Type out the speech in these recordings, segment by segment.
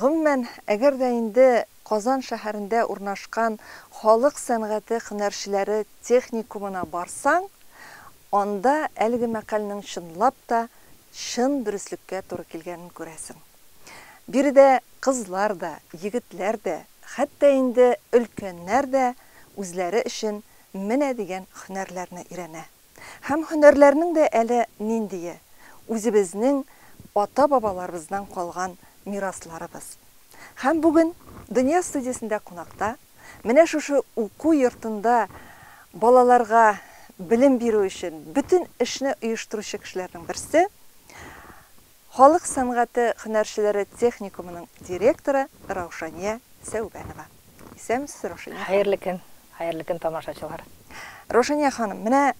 Гомумән, әгәр дә инде Казан шәһәрендә урнашкан Халык сәнгате һөнәрчеләре техникумына барсаң, анда әлеге мәкальнең чынлап та чын дөреслеккә туры килгәнен күрәсең. Биредә кызлар да, егетләр дә, хәтта инде өлкәннәр дә үзләре өчен менә дигән һөнәрләрне өйрәнә. Һәм һөнәрләрнең дә әле ниндие, үзебезнең ата-бабаларыбыздан калган мирасларыбыз. Һәм бүген Дөнья студиясендә кунакта, менә шушы уку йортында балаларга белем бирү өчен бөтен эшне оештыручы кешеләрнең берсе, Халык сәнгате хөнәрчеләре техникумының директоры Раушания Сәүбәнова. Исәнмесез, Раушания ханым! Хәерле көн! Хәерле көн, тамашачылар! Раушания ханым, менә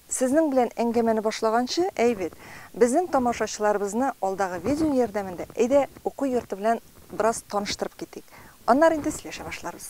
Сезнең белән әңгәмәне башлаганчы, әй бит, безнең тамашачыларыбызны алдагы видео ярдәмендә, әйдә, уку йорты белән бераз таныштырып китик. Аннары инде сөйләшә башларбыз.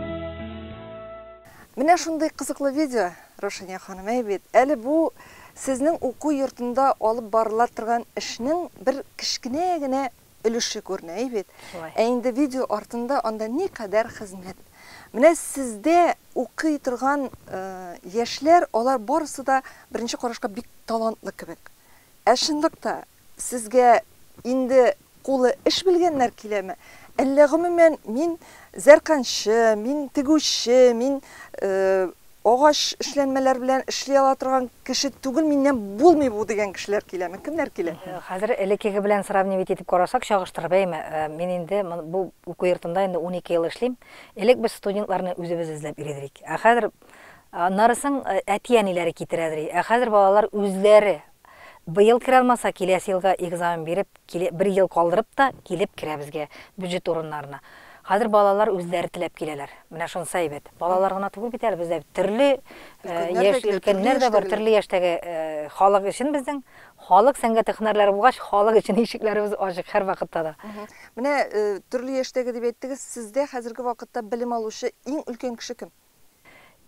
Менә шундый кызыклы видео, Рушания ханым, әй бит, әле бу сезнең уку йортында алып барыла торган эшнең бер кечкенә генә өлеше күренә, әй бит. Шулай. Ә инде видео артында анда никадәр хезмәт. Менә сездә укый торган э, яшьләр, алар барысы да беренче карашка бик талантлы кебек. Ә чынлыкта сезгә инде кулы эш белгәннәр киләме? Әллә гомумән мин зәрканчы, мин тегүче, мин агач эшләнмәләр белән эшли ала торган кеше түгел, миннән булмый бу дигән кешеләр киләме? Кемнәр килә? Хәзер элеккеге белән сравнивать итеп карасак, чагыштырып, әйме, мин инде бу уку йортында инде унике ел эшлим. Элек без студентларны үзебез эзләп йөридерик. Ә хәзер, нарысың әти-әниләре китерәдери. Ә хәзер балалар үзләре Быел керә алмаса, киләсе елга экзамен биреп, киле, бер ел калдырып та килеп керә безгә, бюджет урыннарына. Хәзер балалар үзләре теләп киләләр. Менә шунысы әйбәт. Балалар гына түгел бит әле, бездә бит төрле э, Өлкәннәр дә яшь, килә, төрле өлкәннәр дә бар, яшьтәгеләр. төрле яшьтәге э, халык өчен безнең халык сәнгате һөнәрләре булгач, халык өчен ишекләребез ачык һәрвакытта да. Мгм. Менә э, төрле яшьтәге дип әйттегез, сездә хәзерге вакытта белем алучы иң өлкән кеше кем?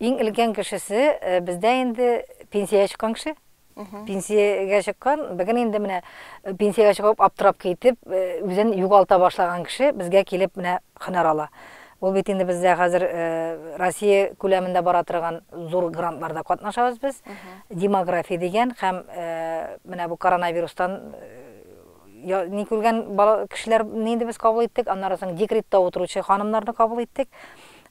Иң өлкән кешесе бездә инде пенсиягә чыккан кеше. Пенсиягә чыккан, бүген инде менә пенсиягә чыгып аптырап китеп, үзен югалта башлаган кеше безгә килеп менә һөнәр ала. Ул бит инде бездә хәзер Россия күләмендә бара торган зур грантларда катнашабыз без. Демография дигән һәм менә бу коронавирустан ни күргән кешеләрне инде без кабул иттек, аннары соң декретта утыручы ханымнарны кабул иттек.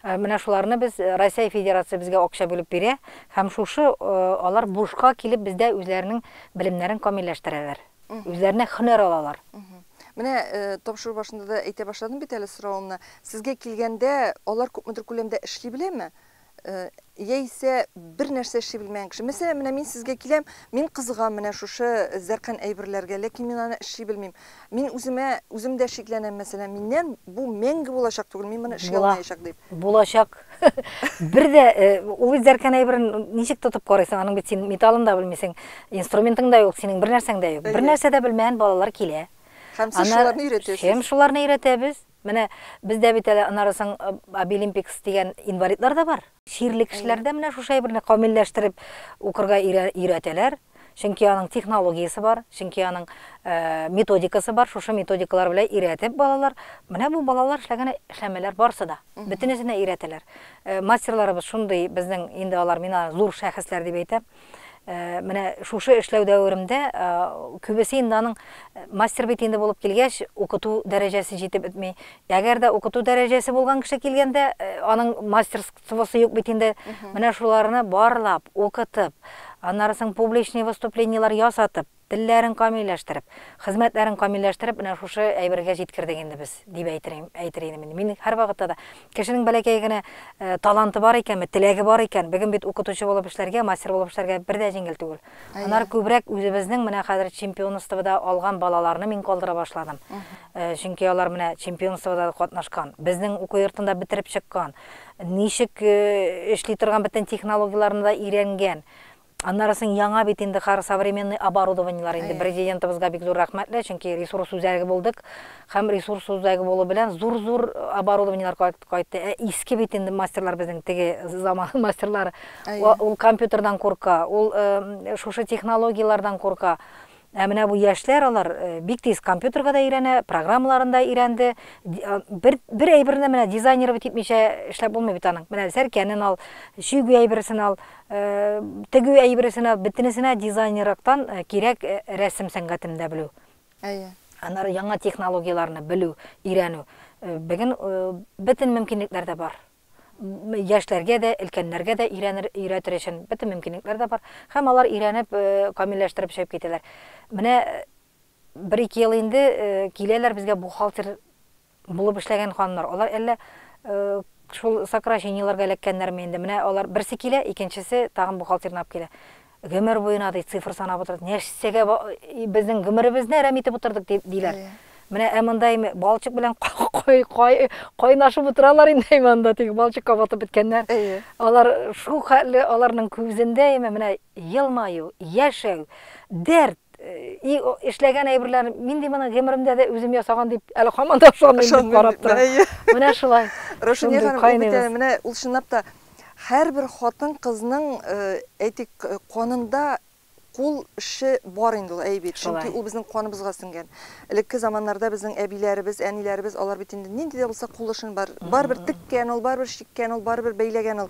Менә шуларны без Росәй Федерация безгә акча бүлеп бирә һәм шушы алар бушка килеп бездә үзләренең белемнәрен камилләштерәләр. Үзләренә хөнәр алалар. Менә тапшыру башында да әйтә башладым бит әле соравымны. Сезгә килгәндә алар күпмедер күләмдә эшли беләме? Яисә бер нәрсә эшли белмәгән кеше. Мәсәлән, менә мин сезгә киләм, мин кызыгам менә шушы зәркән әйберләргә, ләкин мин аны эшли белмим. Мин үземә, үзем дә шикләнәм, мәсәлән, миннән бу мәңге булачак түгел, мин моны эшли алмаячак дип. Булачак. Бер дә э, ул үзәркән әйберен ничек тотып карыйсың? Аның бит син металлын да белмисең, инструментың да юк, синең бер нәрсәң дә юк. Бер нәрсә дә белмәгән балалар килә. Һәм сез шуларны өйрәтәсез. Һәм шуларны өйрәтәбез. Менә бездә бит әле анарысын Abilimpics дигән инвалидлар да бар. Чирле кешеләрдә менә шушы әйберне камилләштереп укырга өйрәтәләр. Чөнки аның технологиясе бар, чөнки аның методикасы бар, шушы методикалар белән өйрәтеп балалар, менә бу балалар эшләгән эшләмәләр барысы да. Бөтенесенә өйрәтәләр. Мастерларыбыз шундый безнең, инде алар мина зур шәхесләр дип әйтәм. Э, менә шушы эшләү дәверемдә э, күбесе инде аның э, мастер бит инде булып килгәч укыту дәрәҗәсе җитеп бетми әгәр дә укыту дәрәҗәсе булган кеше килгәндә аның мастерствосы юк бит инде менә шуларны барлап укытып аннары соң публичный выступлениелар ясатып Телләрен камилләштереп, хезмәтләрен камилләштереп, менә шушы әйбергә җиткердек инде без, дип әйтер идем, әйтер идем инде. Мин һәрвакытта да, кешенең бәләкәй генә таланты бар икәнме, теләге бар икән, бүген бит укытучы булып эшләргә, мастер булып эшләргә бер дә җиңел түгел. Аннары күбрәк үзебезнең менә хәзер чемпионствода алган балаларны мин калдыра башладым. Чөнки алар менә чемпионствода да катнашкан, безнең уку йортын да бетереп чыккан, ничек эшли торган бөтен технологияләрне дә өйрәнгән. Аннары соң яңа бит инде кар современный оборудованиелар инде. Әйе. Президентыбызга бик зур рәхмәтле, чөнки ресурс үзәге булдык. Һәм ресурс үзәге булу белән зур-зур оборудованиелар кайт- кайтты. Ә иске бит инде мастерлар безнең теге заман мастерлары. Әйе. Ул компьютердан курка, ул э, шушы технологияләрдән курка. Ә менә бу яшьләр, алар бик тиз компьютерга да өйрәнә, программаларын да өйрәнде. Бер, бер әйберне менә дизайнировать итмичә эшләп булмый бит аның. Менә сәркәнен ал, чөгү әйбересен ал, тегү әйбересен ал, бөтенесенә дизайнерлыктан кирәк рәсем сәнгатен дә белү. Әйе. Аннары яңа технологияләрне белү, өйрәнү. Бүген бөтен мөмкинлекләр дә бар. яшьләргә дә, өлкәннәргә дә өйрәнер, өйрәтер өчен бөтен мөмкинлекләр дә бар. Һәм алар өйрәнеп, э, камилләштереп чыгып китәләр. Менә э, бер-ике ел инде э, киләләр безгә бухгалтер булып эшләгән ханымнар. Алар әллә э, шул сокращениеләргә эләккәннәрме инде? Менә алар берсе килә, икенчесе тагын бухгалтерны алып килә. Гомер буена ди цифр санап утырды. Нәрсәгә безнең гомеребезне әрәм итеп утырдык дип диләр. Менә ә монда инде балчык белән кайнашып утыралар инде монда тик балчыкка батып беткәннәр. Алар шул хәтле аларның күзендә инде менә елмаю, яшәү, дәрт, и эшләгән әйберләр мин ди моны гомеремдә дә үзем ясаган дип әле һаман да ышанмыйм дип карап тора менә шулай рушания ханым бит әле менә ул чынлап та һәрбер хатын кызның әйтик канында кул эше бар инде ул әй бит чөнки ул безнең каныбызга сеңгән элекке заманнарда безнең әбиләребез әниләребез алар бит инде нинди дә булса кул эшен бар барыбер теккән ул барыбер чиккән ул барыбер бәйләгән ул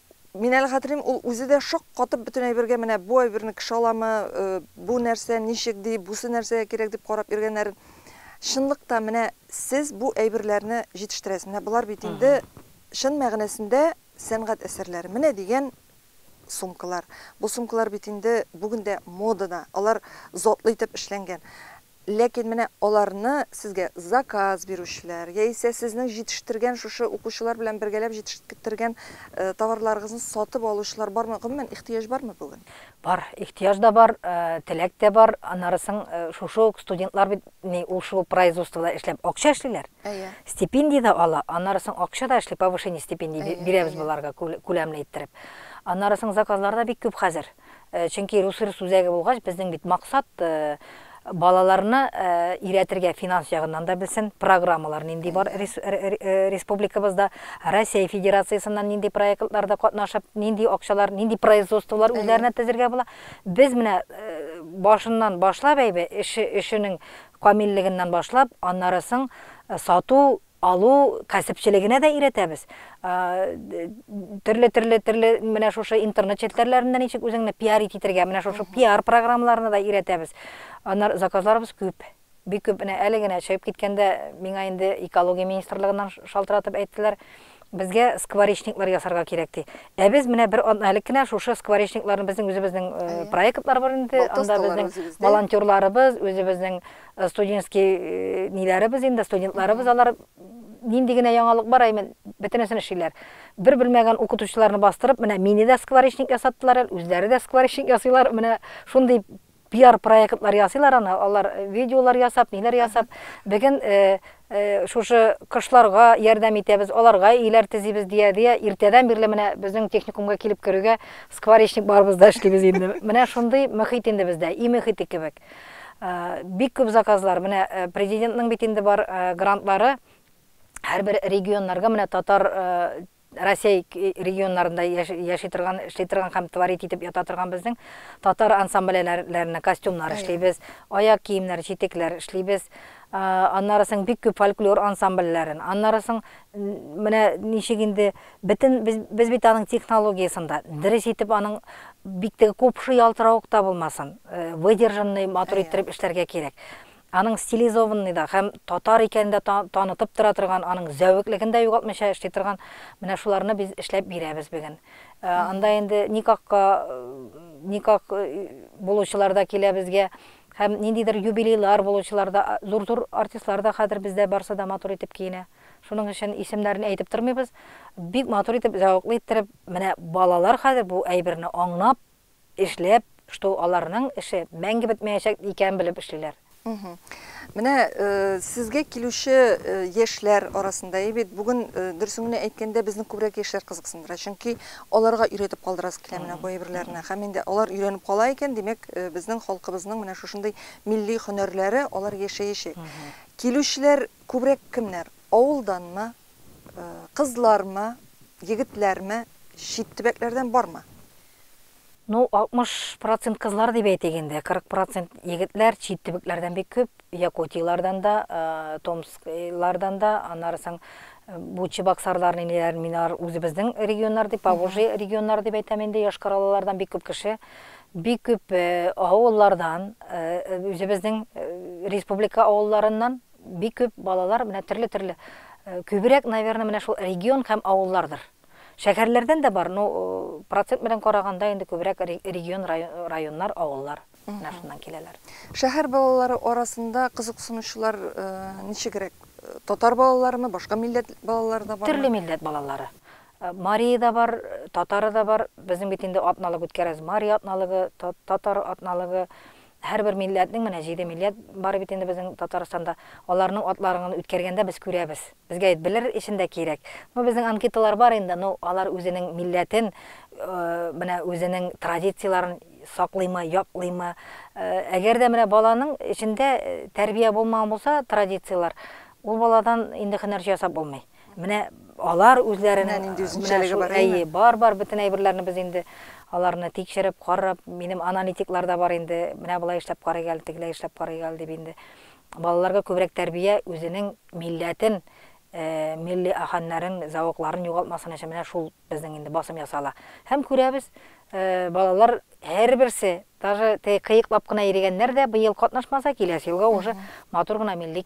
Минәл Хәтрим ул үзе дә шаккатып бөтен әйбергә менә бу әйберне кеше аламы, бу нәрсә, ничек ди, бусы нәрсәгә кирәк дип карап йөргәннәрен. Чынлык та менә сез бу әйберләрне җитештерәсез. Менә болар бит инде чын мәгънәсендә сәнгать әсәрләре. Менә дигән сумкалар. Бу сумкалар бит инде бүген дә модада. Алар затлы итеп эшләнгән. Ләкин менә аларны сезгә заказ бирүчеләр яисә сезнең җитештергән шушы укучылар белән бергәләп җитештергән товарларыгызны сатып алучылар бармы? Гомумән, ихтыяҗ бармы бүген? Бар, ихтыяҗ да бар, теләк тә бар. Аннары соң шушы ук студентлар бит ни ул шул производствода эшләп акча эшлиләр. Әйе. Стипендия дә ала, аннары соң акча да эшли, повышение стипендии бирәбез боларга күләмле иттереп. Аннары соң заказлар да бик күп хәзер. Чөнки русрус үзәге булгач, безнең бит максат балаларны өйрәтергә финанс ягыннан да белсен, программалар нинди бар республикабызда, Россия Федерациясеннән нинди проектларда катнашып, нинди акчалар, нинди производстволар үзләренә тезергә була. Без менә башыннан башлап әйбе, эше, эшенең камиллегеннән башлап, аннары соң сату, Алу кәсепчелегенә дә өйрәтәбез. Төрле-төрле төрле менә шушы интернет челтәрләрендә ничек үзеңне пиарить итергә, менә шушы пиар программаларына да өйрәтәбез. Аннар заказларыбыз күп. Бик күп менә әле генә чыгып киткәндә миңа инде экология министрлыгыннан шалтыратып әйттеләр, безгә скворечниклар ясарга кирәк ди. Ә без менә бер әле кенә шушы скворечникларны безнең үзебезнең проектлар бар инде, анда безнең волонтерларыбыз, үзебезнең э, студенческий э, ниләребез инде, студентларыбыз алар нинди генә яңалык бар, әймен бөтенесен эшлиләр. Бер белмәгән укытучыларны бастырып, менә мине дә скворечник ясаттылар, үзләре дә скворечник ясыйлар. Менә шундый пиар проектлар ясыйлар аны, алар э, видеолар ясап, ниләр ясап. Бүген э, э, шушы кышларга ярдәм итәбез, аларга иләр тезибез дия дия. Иртәдән бирле менә безнең техникумга килеп керүгә скворечник барыбыз да эшлибез инде. Менә шундый мөхит инде бездә, и мөхите кебек. Бик күп заказлар, менә президентның бит инде бар грантлары һәрбер регионнарга менә татар Россия регионнарында яши торган, эшли торган һәм творить итеп ята торган безнең татар ансамбльләренә костюмнар эшлибез, аяк киемнәр, читекләр эшлибез. Аннары соң бик күп фольклор ансамбльләрен, аннары соң менә ничек инде Бөтен без, без бит аның технологиясен дә, дөрес итеп аның бик теге купшы ялтыравык та булмасын, э, выдержанный матур Әйе. иттереп эшләргә кирәк. Аның стилизованный да һәм татар икәнен дә та- танытып тора торган, аның зәвеклеген дә югалтмыйча эшли торган менә шуларны без эшләп бирәбез бүген. Э, Анда инде никахка э, никах э, булучылар да килә безгә һәм ниндидер юбилейлар булучылар да, а, зур-зур артистлар да хәзер бездә барсы да матур итеп киенә. Шуның өчен исемнәрен әйтеп тормыйбыз. Бик матур итеп, зәвыклы иттереп, менә балалар хәзер бу әйберне аңлап, эшләп, что аларның эше мәңге бетмәячәк икәнен белеп эшлиләр. Менә сезгә килүче яшьләр арасында, әйбит, бүген дөресен генә әйткәндә, безне күбрәк яшьләр кызыксындыра. Чөнки аларга өйрәтеп калдырасы килә менә бу әйберләрне. Һәм инде алар өйрәнеп кала икән, димәк, безнең халкыбызның менә шушындый милли һөнәрләре алар яшәячәк. Килүчеләр Күбрәк кемнәр, авылданмы, кызлармы, егетләрме, чит төбәкләрдән бармы? Ну, 60 процент кызлар дип әйтик инде, 40 процент егетләр, чит төбәкләрдән бик күп, Якутияләрдән дә, Томсклардан да, аннары соң бу чебоксарлар, ниләр, минар үзебезнең регионнар дип, Поволжье регионнары дип әйтәм инде, Йошкар-Олалардан бик күп кеше. Бик күп авыллардан, үзебезнең республика авылларыннан бик күп балалар менә төрле-төрле күбрәк, наверное, менә шул регион һәм авыллардыр. Шәһәрләрдән дә бар, ну, процент белән караганда инде күбрәк регион, районнар, авыллар менә шуннан киләләр. Шәһәр балалары арасында кызыксынучылар ничегрәк? Татар балаларымы, башка милләт балалары да бармы? Төрле милләт балалары. Марие да бар, татары да бар. Безнең бит инде атналык үткәрәбез. Марие атналыгы, татар атналыгы. Һәрбер милләтнең, менә җиде милләт бар бит инде безнең Татарстанда. Аларның атларыгын үткәргәндә без күрәбез. Безгә бит белер өчен дә кирәк. Ну, безнең анкеталар бар инде, ну, алар үзенең милләтен, менә үзенең традицияләрен саклыймы, яклыймы. Әгәр дә менә баланың эчендә тәрбия булмаган булса, традицияләр, ул баладан инде һөнәрче ясап булмый. Менә алар үзләрен Менә нинди үзенчәлеге бар, әйе. әйе, бар бар бөтен әйберләрне без инде аларны тикшереп, карап, минем аналитиклар да бар инде, менә болай эшләп карыйк әле, тегеләй эшләп карыйк әле дип инде. Балаларга күбрәк тәрбия үзенең милләтен, э, милли ахәннәрен, зәвыкларын югалтмасын өчен менә шул безнең инде басым ясала. Һәм күрәбез, э, балалар һәрберсе, даже теге кыеклап кына йөригәннәр дә быел катнашмаса, киләсе елга уже матур гына милли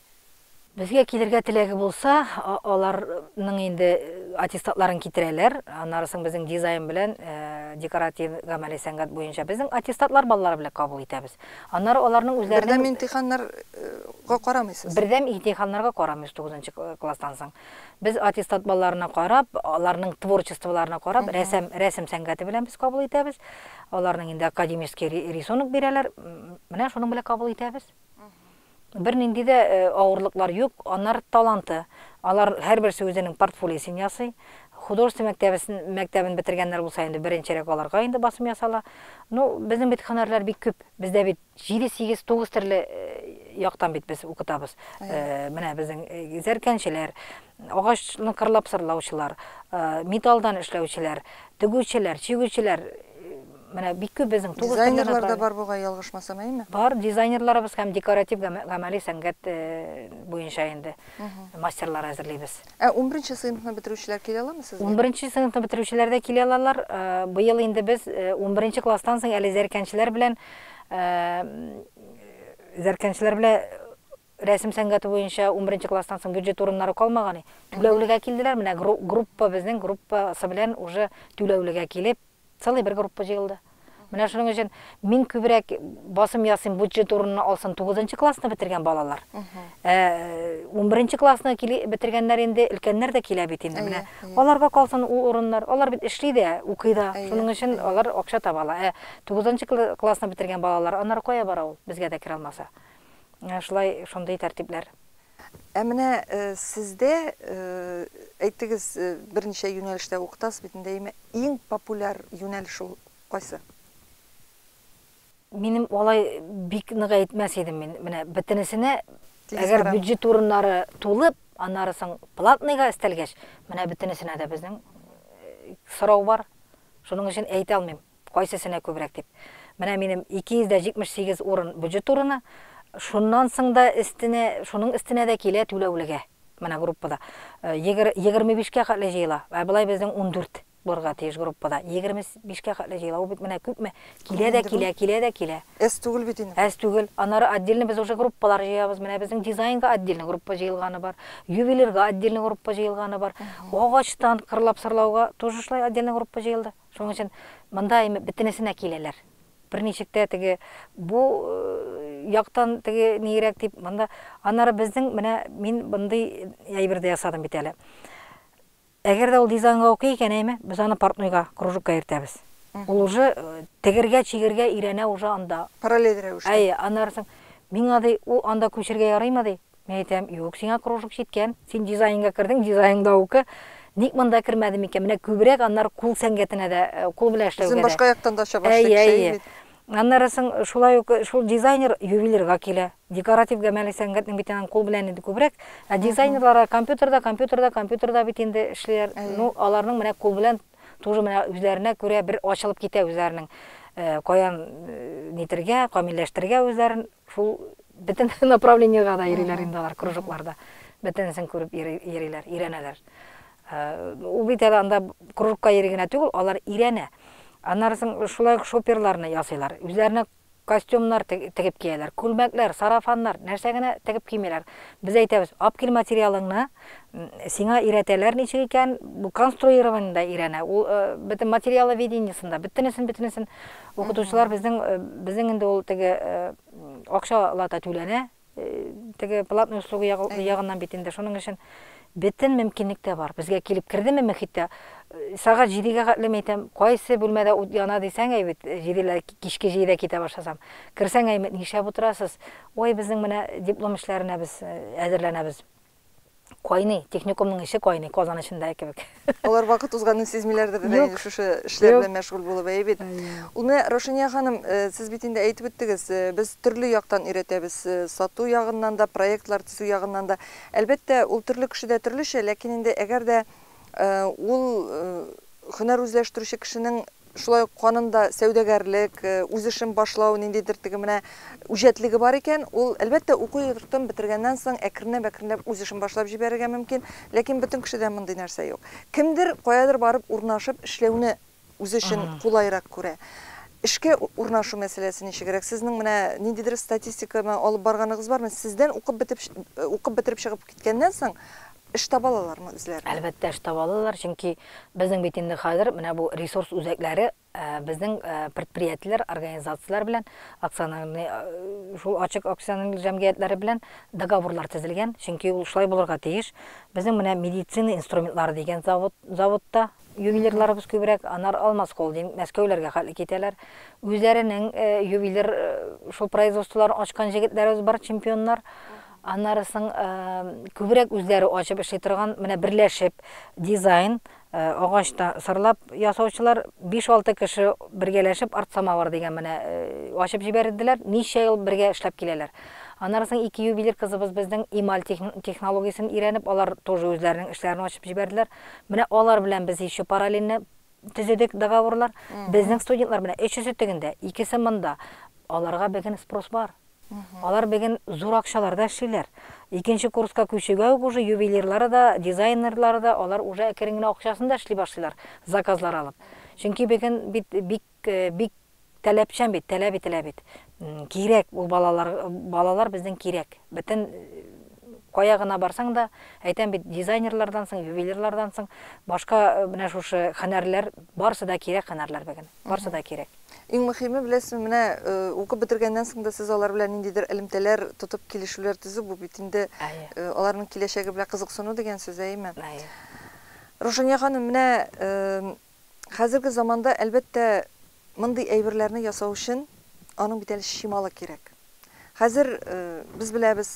Безгә килергә теләге булса, аларның инде аттестатларын китерәләр, аннары соң безнең дизайн белән декоратив гамәли сәнгать буенча безнең аттестатлар балалар белән кабул итәбез. Аннары аларның үзләренең Бердәм имтиханнарга карамыйсыз? Бердәм имтиханнарга карамыйбыз тугызынчы класстан соң. Без аттестат балаларына карап, аларның творчестволарына карап, рәсем, рәсем сәнгате белән без кабул итәбез. Аларның инде академический рисунок бирәләр, менә шуның белән кабул итәбез. Бернинди дә авырлыклар юк, анар таланты. Алар һәрберсе үзенең портфолиосын ясый. Художество мәктәбесен, мәктәбен бетергәннәр булса инде, беренчерәк аларга инде басым ясала. Ну, безнең бит һөнәрләр бик күп. Бездә бит җиде, сигез, тугыз төрле яктан бит без укытабыз. Менә безнең зәркәнчеләр, агачны кырлап сырлаучылар, металлдан эшләүчеләр, тегүчеләр, чигүчеләр, Менә бик күп безнең тугыз төрле Дизайнерлар да направление. бар бугай, ялгышмасам, әйеме? Бар, дизайнерларыбыз һәм декоратив гамә- гамәли сәнгать э, буенча инде мастерлар әзерлибез. Ә унберенче сыйныфны бетерүчеләр килә аламы сезгә? Унберенче сыйныфны бетерүчеләр дә килә алалар. Э, Быел инде без э, унберенче класстан соң әле зәркәнчеләр белән э, зәркәнчеләр белән рәсем сәнгате буенча унберенче класстан соң бюджет урыннары калмаган. и. Түләүлегә килделәр. Менә гру- группа безнең группасы белән уже түләүлегә килеп, Целый бер группа җыелды. Менә шуның өчен мин күбрәк басым ясыйм, бюджет урынны алсын тугызынчы классны бетергән балалар. Ә, Унберенче классны бетергәннәр инде, өлкәннәр дә килә бит инде. Менә аларга калсын ул урыннар. Алар бит эшли дә, укый да. Шуның өчен алар акча таба ала. Ә тугызынчы классны бетергән балалар, аннары кая бара ул, безгә дә керә алмаса? Менә шулай, шундый тәртипләр. Ә менә сездә, әйтегез, берничә юнәлештә укытасыз бит инде, әйме, иң популяр юнәлеш ул кайсы? Минем алай бик нык әйтмәс идем мин, менә бөтенесенә, әгәр бюджет урыннары тулып, аннары соң платныйга өстәлгәч, менә бөтенесенә дә безнең сорау бар, шуның өчен әйтә алмыйм. кайсесенә күбрәк дип. Менә минем 278 урын бюджет урыны, шуннан соң да өстенә, шуның өстенә дә килә түләүлегә. Менә группада 25 кә хәтле җыела, ә болай безнең 14 булырга тиеш группада. 25 кә хәтле җыела, ул бит менә күпме, килә дә килә, килә дә килә. Әз түгел бит инде. Әз түгел. Аннары отдельно без уже группалар җыябыз. Менә безнең дизайнга отдельно группа җыелганы бар, ювелирга отдельно группа җыелганы бар, агачтан кырлап-сырлауга тоже шулай отдельно группа җыелды. Шуның өчен монда имеп бетенесенә киләләр. Берничек тә теге бу яктан теге нигерәк дип монда. Аннары безнең менә мин мондый әйбер дә ясадым бит әле. Әгәр дә ул дизайнга укый икән, әйме, без аны портнойга, кружокка йөртәбез. Ул уже тегергә, чигергә өйрәнә уже анда. Параллель рәвештә. Әйе, аннары соң миңа ди, ул анда күчергә ярыймы ди? Мин әйтәм, юк, сиңа кружок җиткән. Син дизайнга кердең, дизайн да уку. Ник монда кермәдем икән? Менә күбрәк аннары кул сәнгатенә дә, э, кул белән эшләүгә дә. Үзен башка яктан да ача башлый кеше бит. Аннары соң шулай ук шул дизайнер ювелирга килә. Декоратив гамәли сәнгатьнең бит аның кул белән инде күбрәк. Ә дизайнерлар компьютерда, компьютерда, компьютерда бит инде эшлиләр. Ну, аларның менә кул белән тоже менә үзләренә күрә бер ачылып китә үзләренең. Э, каян э, нитергә, камилләштерергә үзләрен. Шул бөтен направлениега да йөриләр инде алар кружокларда. Бөтенесен күреп йөриләр, өйрәнәләр. Э, ул бит әле анда кружокка йөри генә түгел, алар өйрәнә. Аннары соң шулай ук шоперларны ясыйлар. Үзләренә костюмнар тегеп кияләр, күлмәкләр, сарафаннар, нәрсә генә тегеп кимиләр. Без әйтәбез, ап кил материалыңны, сиңа өйрәтәләр ничек икән, бу конструированиедә өйрәнә. Ул э, бөтен материалы видениесында, бөтенесен, бөтенесен Укытучылар безнең э, безнең инде ул теге э, акча лата түләнә, э, теге платный услуга ягыннан бит инде. Шуның өчен бөтен мөмкинлек тә бар. Безгә килеп кердеме мөхиттә, сәгать җидегә хәтле әйтәм, кайсы бүлмәдә ут яна дисәң, әй бит, җиделәр, кичке җидедә китә башласам. Керсәң, әй, нишләп утырасыз? Ой, безнең менә диплом эшләренә без әзерләнәбез. кайный, техникумның эче кайный, Казан эчендәге кебек. Алар вакыт узганын сизмиләрдер дә инде шушы эшләр белән мәшгуль булып, әйе бит. Ул менә Раушания ханым, э, сез бит инде әйтеп үттегез, э, без төрле яктан өйрәтәбез, э, сату ягыннан да, проектлар төзү ягыннан да. Әлбәттә, ул төрле кешедә төрлечә, ләкин инде әгәр дә ул хөнәр үзләштерүче кешенең Шулай ук канында сәүдәгәрлек, үз эшен башлау ниндидер теге менә үҗәтлеге бар икән, ул, әлбәттә, уку йортын бетергәннән соң әкренләп-әкренләп үз эшен башлап җибәрергә мөмкин, ләкин бөтен кешедә мондый нәрсә юк. Кемдер каядыр барып урнашып эшләүне үзе өчен кулайрак күрә. Эшкә урнашу мәсьәләсе ничегрәк? Сезнең менә ниндидер статистиканы алып барганыгыз бармы? Сездән укып бетеп, укып бетереп чыгып киткәннән соң, Эш таба алалармы үзләренә? Әлбәттә, эш таба алалар, чөнки безнең бит инде хәзер менә бу ресурс үзәкләре безнең предприятиеләр, организацияләр белән, акционерный, шул ачык акционер җәмгыятьләре белән договорлар төзелгән, чөнки ул шулай булырга тиеш. Безнең менә медицина инструментлары дигән завод, заводта ювелирларыбыз күбрәк, анар Алмаз холдинг, Мәскәүләргә хәтле китәләр. Үзләренең ювелир шул производстволарын ачкан җегетләребез бар, чемпионнар. Аннары соң күбрәк үзләре ачып эшли торган, менә берләшеп дизайн, агачта сырлап ясаучылар 5-6 кеше бергәләшеп арт-самавыр дигән менә ачып җибәрделәр. Ничә ел бергә эшләп киләләр. Аннары соң ике ювелир кызыбыз безнең эмаль технологиясен өйрәнеп, алар тоже үзләренең эшләрен ачып җибәрделәр. Менә алар белән без еще параллельно төзедек договорлар. Безнең студентлар менә өчесе тегендә, икесе монда. Аларга бүген спрос бар. Алар беген зур акчаларда эшлиләр. Икенче курска күчүгә үк уже ювелирлары да, дизайнерлары да алар уже әкерен генә акчасын да эшли башлыйлар, заказлар алып. Чөнки беген бит бик, бик таләпчән бит, таләп ителә бит. Кирәк ул балалар, балалар безнең кирәк. Бөтен кая гына барсаң да, әйтәм бит, дизайнерлардан соң, ювелирлардан соң башка менә шушы һөнәрләр, барсы да кирәк һөнәрләр беген. Барсы да кирәк. Иң мөхиме, беләсезме, менә укып бетергәннән соң да сез алар белән ниндидер элемтәләр тотып килешүләр төзү, бу бит инде аларның киләчәге белән кызыксыну дигән сүз, әйеме? Әйе. Рушания ханым, менә хәзерге заманда, әлбәттә, мондый әйберләрне ясау өчен аның бит әле чималы кирәк. Хәзер без беләбез,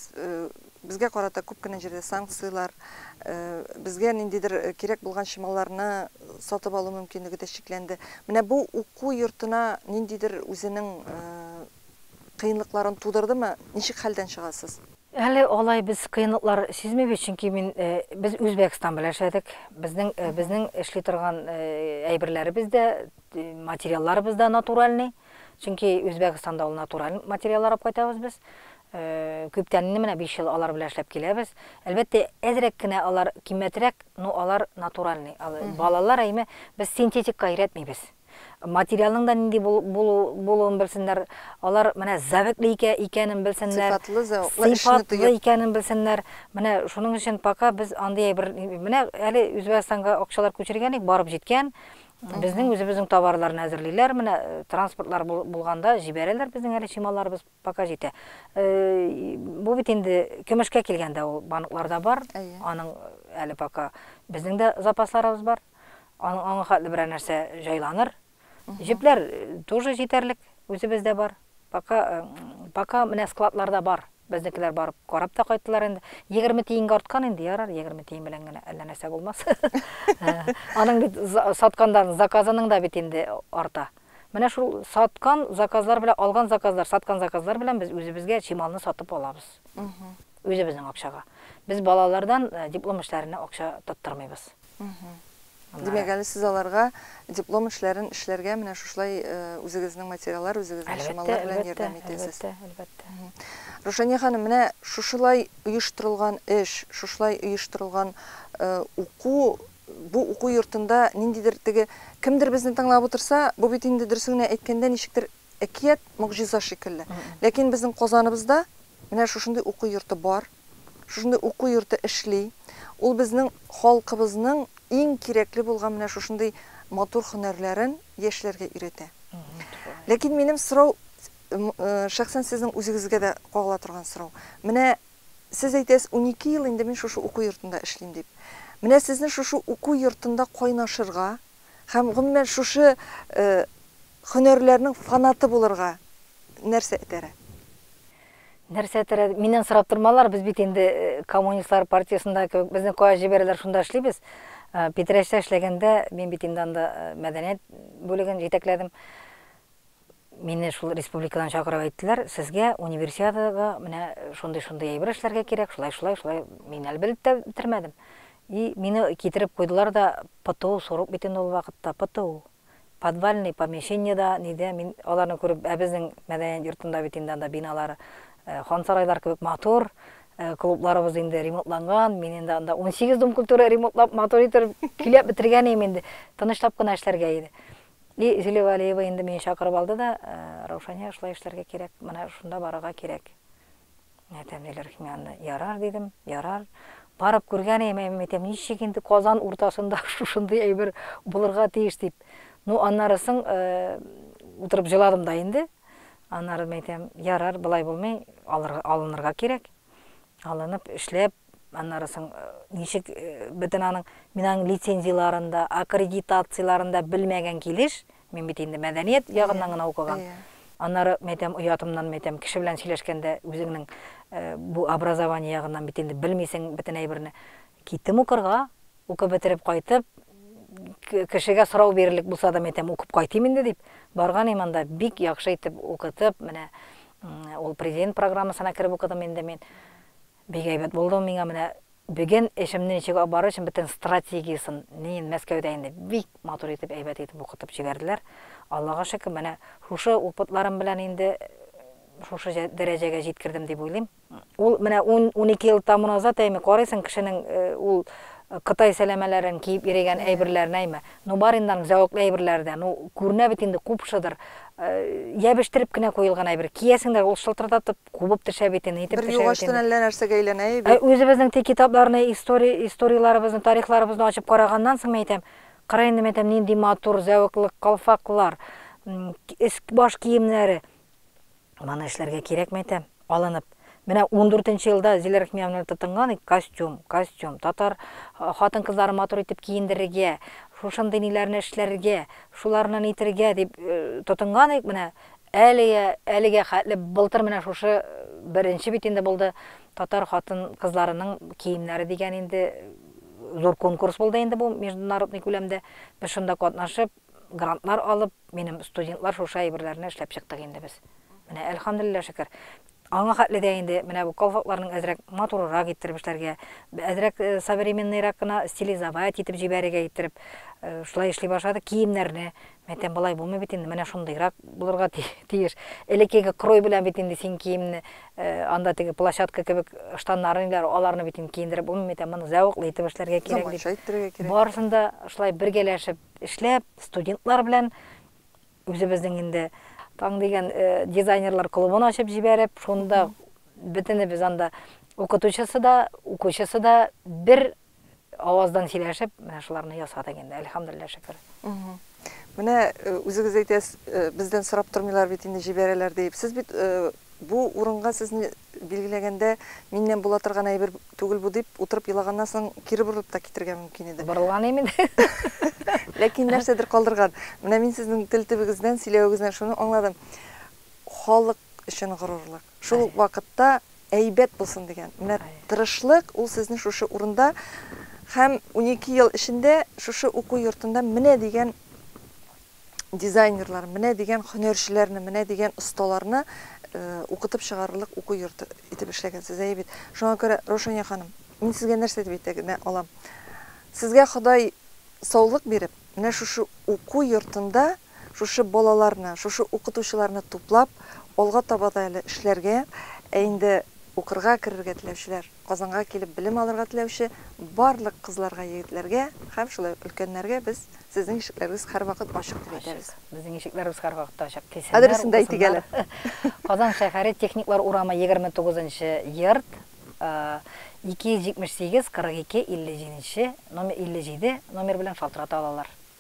безгә карата күп кенә җирдә санкцияләр, безгә ниндидер кирәк булган чималларны сатып алу мөмкинлеге дә чикләнде. Менә бу уку йортына ниндидер үзенең кыенлыкларын тудырдымы? Ничек хәлдән чыгасыз? Әле алай без кыенлыклар сизмибез, чөнки мин, без Үзбәкстан белән эшләдек. Безнең, безнең эшли торган әйберләребез дә, материалларыбыз да натуральный. Чөнки Үзбәкстанда ул натураль материаллар алып кайтабыз без. Э, күптән инде менә 5 ел алар белән эшләп киләбез. Әлбәттә, әзрәк кенә алар кимәтрәк, но алар натуральный. Балалар әйме без синтетикка өйрәтмибез. Материалның да нинди булуын белсеннәр, алар менә зәвекле икәнен белсеннәр. Сыйфатлы зәвыклы эшне тоеп. икәнен белсеннәр. Менә шуның өчен пока без андый бер менә әле Үзбәкстанга акчалар күчергән барып җиткән. Безнең үзебезнең товарларны әзерлиләр, менә транспортлар булганда җибәрәләр, безнең әле чималарыбыз пока җитә. Бу бит инде көмешкә килгәндә ул банкларда бар, аның әле пока безнең дә запасларыбыз бар. Аның аңа хәтле берәр нәрсә җайланыр. Җепләр тоже җитәрлек, үзебездә бар. Пока, пока менә складларда бар. Безнекеләр барып карап та кайттылар инде. 20 тиенгә арткан инде, ярар, 20 тиен белән генә әллә нәрсә булмас. Аның бит саткандан заказының да бит инде арта. Менә шул саткан заказлар белән алган заказлар, саткан заказлар белән без үзебезгә чималны сатып алабыз. Үзебезнең акчага. Без балалардан диплом эшләренә акча тоттырмыйбыз. Димәк, әле сез аларга диплом эшләрен эшләргә менә шушылай үзегезнең материаллар, үзегезнең чамалар белән ярдәм итәсез. Әлбәттә, әлбәттә. Рушания ханым, менә шушылай оештырылган эш, шушылай оештырылган уку, бу уку йортында ниндидер теге кемдер безне тыңлап утырса, бу бит инде дөресен генә әйткәндә ничектер әкият, могҗиза шикелле. Ләкин безнең Казаныбызда менә шушындый уку йорты бар. Шушындый уку йорты эшли. Ул безнең халкыбызның иң кирәкле булган менә шушындый матур һөнәрләрен яшьләргә өйрәтә. Ләкин минем сорау, шәхсән сезнең үзегезгә дә кагыла торган сорау. Менә сез әйтәсез, унике ел инде мин шушы уку йортында эшлим дип. Менә сезне шушы уку йортында кайнашырга һәм, гомумән, шушы һөнәрләрнең фанаты булырга нәрсә этәрә? Нәрсә терәде? Миннән сорап тормалар, без бит инде коммунистлар партиясендә кебек, безне кая җибәрәләр, шунда эшлибез. Питрәчтә эшләгәндә, мин бит инде анда мәдәният бүлеген җитәкләдем. Мине шул республикадан чакырып әйттеләр, сезгә универсиадага менә шундый-шундый әйбер эшләргә кирәк, шулай-шулай, шулай. Мин әле белеп тә бетермәдем. И мине китереп куйдылар да, ПТУ сорок бит инде ул вакытта, ПТУ. Подвальный помещение дә, ни дә, мин аларны күреп, ә безнең мәдәният йортында бит инде анда биналар хансарайлар кебек матур, клубларыбыз инде ремонтланган, мин инде анда унсигез Дом культуры ремонтлап, матур итеп, көйләп бетергән идем инде, тынычлап кына эшләргә иде. И Зилә Вәлиева инде мине чакырып алды да, Раушания, шулай эшләргә кирәк, менә шунда барырга кирәк. Менә тәмлеләр икән, мин аны ярар дидем, ярар. Барып күргән идем, әйе, мин әйтәм, ничек инде Казан уртасында шушындый әйбер булырга тиеш дип. Ну, аннары соң утырып җыладым да инде. Аннары мин әйтәм, ярар, болай булмый, алынырга кирәк. Алынып, эшләп, аннары соң ничек бөтен аның, мин аның лицензияләрен дә, аккредитацияләрен дә белмәгән килеш, Мин бит инде мәдәният ягыннан гына укыган. Аннары, мин әйтәм, оятымнан, мин әйтәм, кеше белән сөйләшкәндә үзеңнең бу образование ягыннан бит инде белмисең бөтен әйберне. Киттем укырга, укып бетереп кайтып, кешегә сорау бирерлек булса да, мин әйтәм, укып кайтыйм инде дип, барган идем анда, бик яхшы итеп укытып, менә ул президент программасына кереп укыдым инде мин. Бик әйбәт булды миңа менә беген эшемне ничек алып барыр өчен бөтен стратегиясын нин мәскәүдә инде бик матур итеп әйбәт итеп укытып җибәрделәр аллага шөкер менә шушы упытларым белән инде шушы дәрәҗәгә җиткердем дип уйлыйм ул менә унике ел тому назад әйме карыйсың кешенең ул кытай сәләмәләрен киеп йөрегән әйберләрен әйме ну бар инде аның зәвыклы әйберләре дә ну күренә бит инде купшыдыр ябештереп кенә куелган әйбер киясең дә ул шылтырдатып кубып төшә бит инде, итеп төшә бит инде. Бер югачтын әллә нәрсәгә әйләнә и бит. Үзебезнең теге китапларны, история, историяләребезне, тарихларыбызны ачып караганнан соң, мин әйтәм, кара инде, мин әйтәм, нинди матур, зәвыклы калфаклар, өс-баш киемнәре. Моны эшләргә кирәкме, әйтәм, алынып. Менә ундүртенче елда Зилә Рәхимиевнаны тотынган, костюм, костюм, татар хатын-кызларын матур итеп киендерергә, шушындый ниләрне эшләргә, шуларны нитергә дип тотынган идек, менә Әлегә, әлегә хәтле былтыр менә шушы беренче бит инде булды, татар хатын-кызларының киемнәре дигән инде зур конкурс булды инде бу международный күләмдә. Без шунда катнашып, грантлар алып, минем студентлар шушы әйберләрне эшләп чыктык инде без. Менә әлхәмдүлилләһ шөкер. Аңа хәтле дә инде менә бу колфакларның әзрәк матурырак иттереп эшләргә, әзрәк современныйрак кына стилизовать итеп җибәрергә иттереп, шулай эшли башладык. Киемнәрне, мәйтәм, болай булмый бит инде, менә шундыйрак булырга тиеш. Элеккеге крой белән бит инде син киемне, анда теге площадка кебек штаннары ниләр, аларны бит инде киендереп булмый, мәйтәм, моны зәвыклы итеп эшләргә кирәк дип. Заманча иттерергә кирәк. Барысын да шулай бергәләшеп эшләп, студентлар белән Үзебезнең инде Таң дигән дизайнерлар клубын ачып җибәреп, шунда бөтенебез анда укытучысы да, укучысы да бер аваздан сөйләшеп, менә шуларны ясадык инде, әлхәмдулилла шөкер. Менә үзегез әйтәсез, бездән сорап тормыйлар бит инде җибәрәләр дип. Сез бит бу урынга сезне билгеләгәндә миннән була торган әйбер түгел бу дип, утырып елаганнан соң кире борылып та китергә мөмкин иде. Борылган имин. Ләкин нәрсәдер калдырган. Менә мин сезнең тел төбегездән, сөйләвегездән шуны аңладым. Халык өчен горурлык. Шул ук вакытта әйбәт булсын дигән. Менә тырышлык ул сезне шушы урында һәм унике ел эчендә шушы уку йортында менә дигән дизайнерлар, менә дигән хөнәрчеләрне, менә дигән осталарны укытып чыгарырлык уку йорты итеп эшләгәнсез, әйе бит? Шуңа күрә, Раушания ханым, мин сезгә нәрсә дип әйтә генә алам? Сезгә Ходай саулык биреп, менә шушы уку йортында шушы балаларны, шушы укытучыларны туплап, алга таба да әле эшләргә, ә инде укырга керергә теләүчеләр, Казанга килеп белем алырга теләүче барлык кызларга, егетләргә һәм шулай ук өлкәннәргә без Сезнең ишекләрегез һәрвакыт ачык дип әйтәбез. Ачык. Безнең ишекләребез һәрвакыт ачык. Килсеннәр, укысыннар. Адресен дә әйтик әле. Казан шәһәре, Техниклар урамы, 29 нчы йорт, 278 42 57 нче номер, 57 номер белән шалтырата алалар.